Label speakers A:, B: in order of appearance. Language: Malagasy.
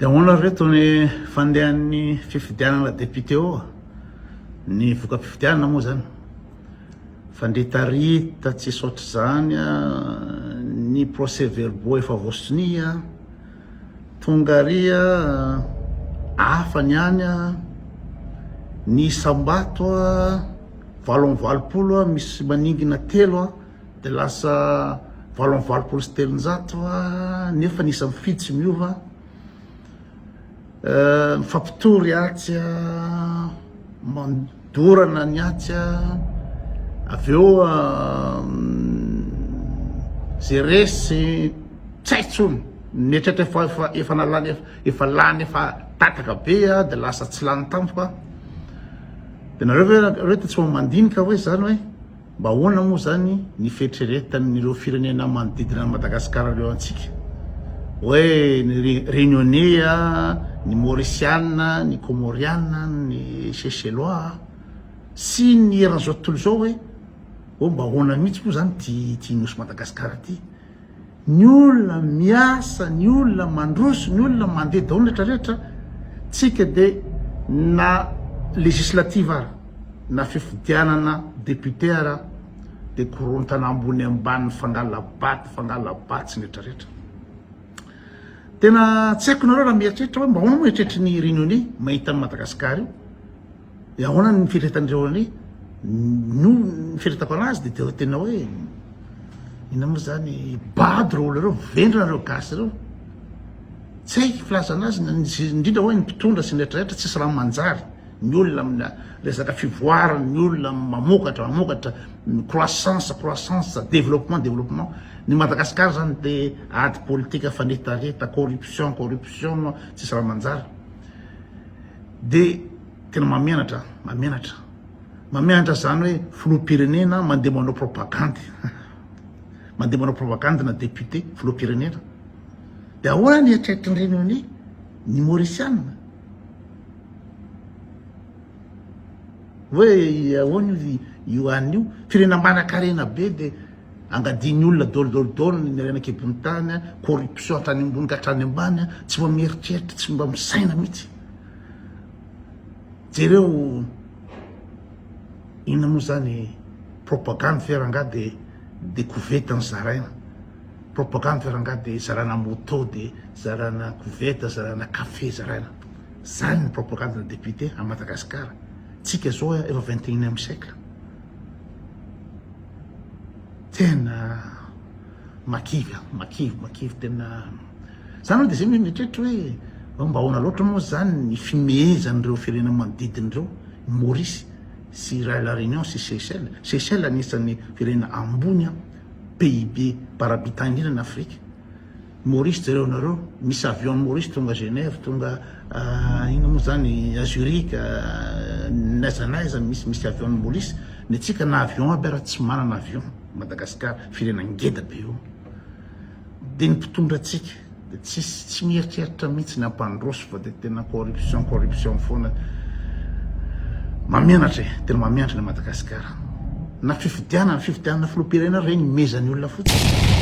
A: Dia ahoana ry reto ny fandehan'ny fifidianana député ô? Ny voka-pifidianana moa izany? Fandritarita tsisy ohatr'izany a, ny procès verbaux efa voasonia, tonga ary a, hafa ny any a, ny isam-bato a, valo amby valopolo a, misy maningina telo a. Dia lasa valo amby valopolo sy telonjato va nefa ny isa mifidy tsy miova eh, mifampitory atsy ah, mandorana ny atsy ah. avy eo ah, ze resy tsaitsony netratra efa efa efa nalany efa lany efa tataka be ah, dia lasa tsy lany tampoka dia nareo ve nareo tsy mandinika hoe zany hoe Mba ahoana moa izany ny fieritreretan'ireo firenena manodidina an'i Madagasikara ireo antsika hoe ny Reunionnais, ny Mauriciana, ny Comoriana, ny Seychellois sy ny eran'izao tontolo izao hoe oh mba ahoana mihitsy moa izany ity nosy Madagasikara ity? Ny olona miasa, ny olona mandroso, ny olona mandeha daholo rehetra rehetra tsika dia na législative ara na fifidianana député ara dia korontana ambony ambany mifangala bato mifangala batsy ny rehetra rehetra. Tena tsy haiko nareo raha mieritreritra hoe mba ahoana moa eritreritry ny Renioney mahita an'i Madagasikara io. Dia ahoana ny fieritretan'ireo an'i no ny fieritako anazy dia dia tena hoe inona moa zany bado ireo olona ireo vendrana ireo gasy ireo tsy haiko filazana azy indrindra hoe ny mpitondra sy ny retraretra tsisy raha manjary ny olona amina resaka fivoarana ny olona mamokatra mamokatra ny croissance croissance développement développement ny Madagascar zany dia ady politika fanetareta corruption corruption tsisy raha manjary de tena mamenatra mamenatra mamenatra zany hoe filoham-pirenena mandeha manao propagandy mandeha manao propagandy na député filoham-pirenena de ahoana ny eritreritriny reny hoe ny maurisianina hoe ahoana io io an'io firenena manan-karena be de Angadian'ny olona dôlidôly dôly ny harena an-kibon'ny tany, corruption hatrany ambony ka hatrany ambany, tsy mba mieritreritra, tsy mba misaina mihitsy. Jereo inona moa zany propagande ve rangaha de de koveta no zaraina? Propagande ve rangaha de zarana moto de zarana koveta, zarana café zaraina? Zany ny propagande ny député à Madagascar. Tsika zao efa vingt et unième siècle. Tena makivy an, makivy, makivy tena. Za aloha dia izay mieritreritra hoe fa mba ahoana loatra moa izany ny fimehezan'ireo firenena manodidina ireo, i Maurice sy i La Réunion sy Seychelles. Seychelles anisan'ny firenena ambony an, PIB par habitant indrindra an'i Afrika. Maurice jereo nareo misy avion Maurice tonga Genève tonga inona moa zany à Zurich n'aiza n'aiza misy misy avion ny Maurice ny antsika na avion aby ara tsy manana avion Madagascar firenena ngeda be io de ny mpitondra antsika de tsisy tsy mieritreritra mihitsy ny ampandroso fa de tena corruption corruption foana mamianatra e tena mamianatra ny Madagascar. Na fifidianana, fifidianana filoham-pirenena ary regny mezan'ny olona fotsiny.